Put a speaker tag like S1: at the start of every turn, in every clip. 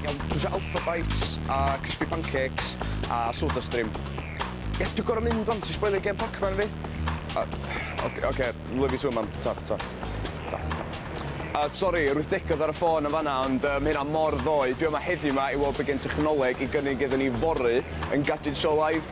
S1: Iawn, dwi eisiau Alpha Bites a Crispy Pancakes a Soda Stream. Ie, dwi'n gorau mynd o'n ti'n sboilio gen Pac-Man fi. Oce, oce, love you too, mam. Ta, ta, ta, ta. A, sori, yr wythdegod ar y ffôn yn fanna, ond um, hynna mor ddoe. Dwi yma heddiw yma i weld be gen technoleg i gynnig iddyn ni fory yn Gadget Show Live.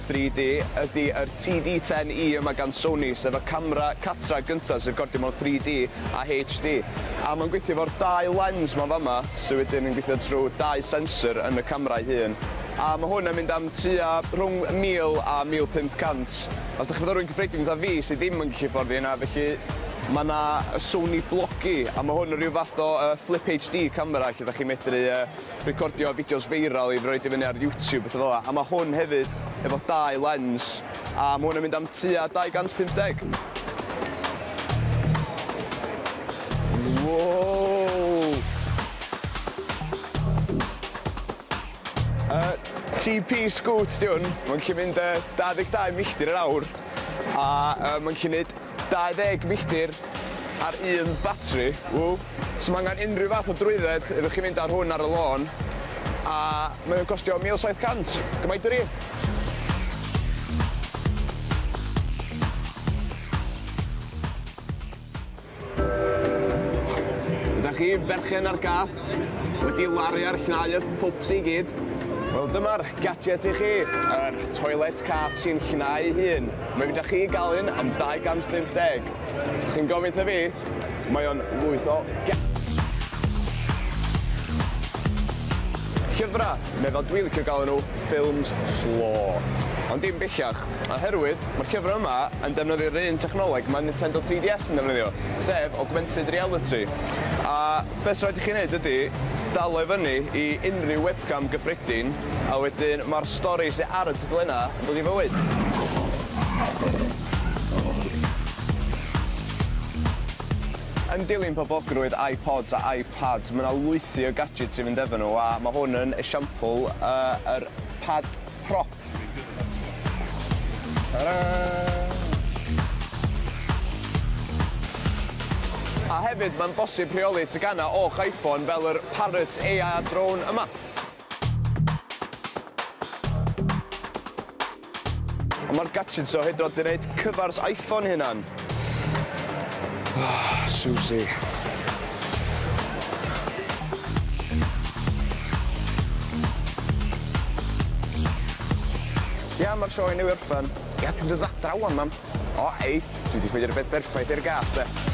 S1: 3D ydy yr TD-10E yma gan Sony, sef y camera catra gynta sy'n recordio mewn 3D a HD. A mae'n gweithio efo'r dau lens ma fama, sy wedyn yn gweithio trwy dau sensor yn y camera ei hun. A mae hwn yn mynd am tua rhwng 1000 a 1500. Os dych chi'n fyfyrwyr cyffredin fatha fi sydd ddim yn gallu hyfforddi hynna, felly mae yna y Sony Blogi, a mae hwn yn rhyw fath o yy flip HD camera lle dych chi'n medru yy recordio fideos feiral i roid i fyny ar YouTube, bethau fel 'na, a mae hwn hefyd efo dau lens, a mae hwn yn mynd am tua 250. Wow! Uh, TP Scoot di hwn, mae'n gallu mynd uh, 22 milltir yr awr, a uh, mae'n gallu gwneud 20 milltir ar un batri, ww! S'm angen unrhyw fath o drwydded iddo chi fynd â hwn ar y lôn, a mae o'n costio 1,700, gymaint â fi! Ydach chi berchen ar gath wedi laru ar llnau y pwps i gyd? Wel dyma'r gadget i chi, yr toilet cath sy'n llnau ei hun. Mae gyda chi gael un am 250. Os da chi'n gofyn ta fi, mae o'n lwyth o Llyfrau, neu fel dwi'n licio galw nhw, ffilms slo. Ond dim bellach, oherwydd mae'r llyfrau yma yn defnyddio'r un technoleg mae Nintendo 3DS yn defnyddio, sef augmented reality. A beth rhaid i chi wneud ydy dal o i fyny i unrhyw webcam gyffredin, a wedyn mae'r stori sydd ar y Glenna, yn dod i fywyd! Yn dilyn poblogrwydd iPods a iPads, mae 'na lwythi o gadgets i fynd efo nhw, a mae hwn yn esiampl o yr Pad Pro. Ta-daa! A hefyd, mae'n bosib rheoli teganau o'ch iPhone fel yr Parrot AI Drone yma. Ond mae'r gadgets o hyd yn oed wedi gwneud cyfars iPhone hynna'n. Oh, Susie. Ia, mae'r sioe newydd orffen. Ia, dwi'n dod adra wan, mam. O, ei, dwi wedi ffeindio'r beth berffaith i'r gath, de.